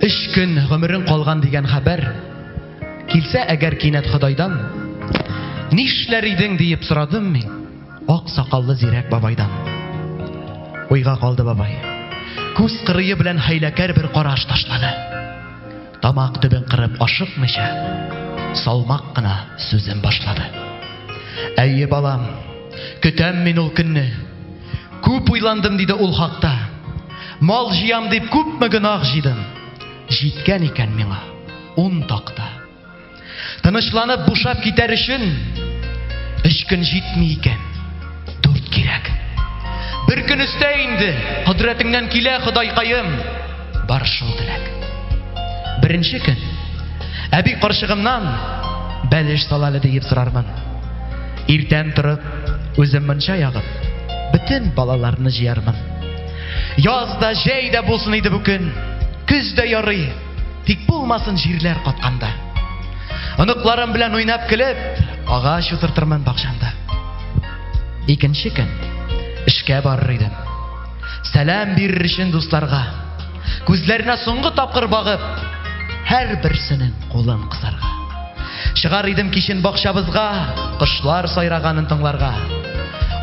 Өч көн гомерең калган дигән хәбәр килсә әгәр кинәт Ходайдан, нишләр идең диеп сорадым мин ак сакаллы зирәк бабайдан. Уйга калды бабай. Күз кырые белән хәйләкәр бер караш ташлады. Тамак төбен кырып ашыкмыйча, салмак кына сүзен башлады. Әйе, балам, көтәм мин ул көнне. Күп уйландым, диде ул хакта. Мал җыям дип күпме гөнаһ җыйдым. Җиткән икән миңа ун такта. Тынычланып бушап китәр өчен өч көн җитми икән. Дүрт кирәк. Бер көн өстә инде, кодрәтеңнән килә, Ходайкаем. Бар шул теләк. Беренче көн әби карчыгымнан бәлеш сала әле диеп сорармын. Иртән торып, үзем мунча ягып, бөтен балаларны җыярмын. Яз да, җәй дә булсын иде бу көн. Көз дә ярый. Тик булмасын җирләр катканда. Оныкларым белән уйнап килеп, агач утыртырмын бакчамда. Икенче көн эшкә барыр идем. Сәлам бирер өчен дусларга. Күзләренә соңгы тапкыр багып, һәр берсенең кулын кысарга. Чыгар идем кичен бакчабызга, кошлар сайраганын тыңларга.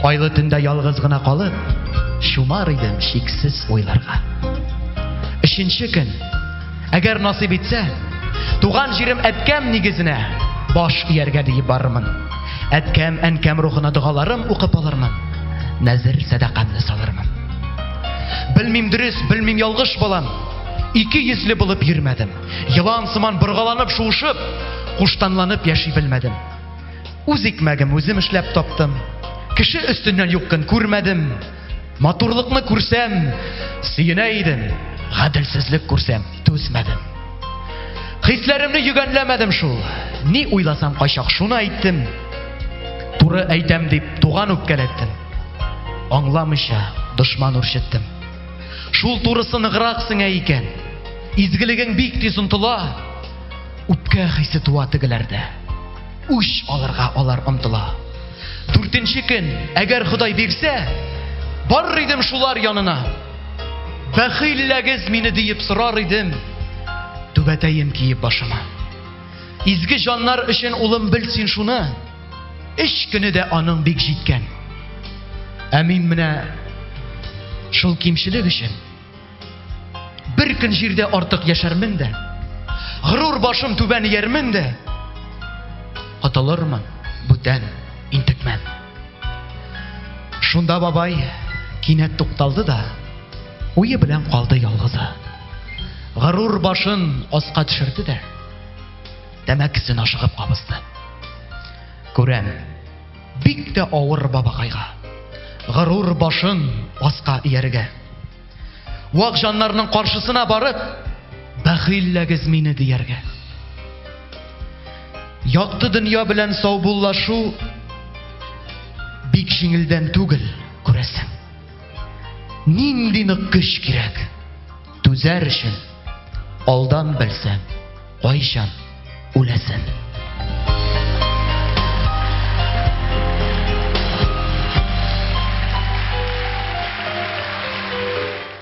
Айлы төндә ялгыз гына калып, чумар идем шиксез уйларга. Өченче көн, әгәр насыйп итсә, туган җирем әткәм нигезенә баш ияргә диеп барырмын. Әткәм, әнкәм рухына догаларым укып алырмын. Нәзер сәдакамны салырмын. Белмим дөрес, белмим ялгыш балам. Ике йөзле булып йөрмәдем. Елан сыман боргаланып, шуышып, куштанланып яши белмәдем. Үз икмәгем үзем эшләп таптым. Кеше өстеннән юк көн күрмәдем. Матурлыкны күрсәм, сөенә идем. Гаделсезлек күрсәм, түзмәдем. Хисләремне йөгәнләмәдем шул. Ни уйласам кайчак шуны әйттем. Туры әйтәм дип туган үпкәләттем. Аңламыйча дошман үрчеттем. Шул турысы ныграк сеңә икән. Изгелегең бик тиз онтыла. Үпкә хисе туа тегеләрдә. Үч алырга алар омтыла. Дүртенче көн, әгәр Ходай бирсә, бар идем шулар янына. Бәхилләгез мине диеп сорар идем. Түбәтәем киеп башыма. Изге җаннар өчен улым бел син шуны. Өч көне дә аның бик җиткән. Ә мин менә шул кимчелек өчен бер көн җирдә артык яшәрмен дә, горур башым түбән иярмен дә, аталырмын бүтән интекмән. Шунда бабай кинәт тукталды да, уе белән калды ялгызы. Горур башын аска төшерде дә, Тәмәкесен ашыгып кабызды. Күрәм, бик тә авыр бабакайга. Горур башын аска ияргә. Вак җаннарның каршысына барып, бәхилләгез мине дияргә. Якты дөнья белән саубуллашу бик җиңелдән түгел, күрәсең. Нинди нык көч кирәк? Түзәр өчен алдан белсәң, Кайчан үләсен?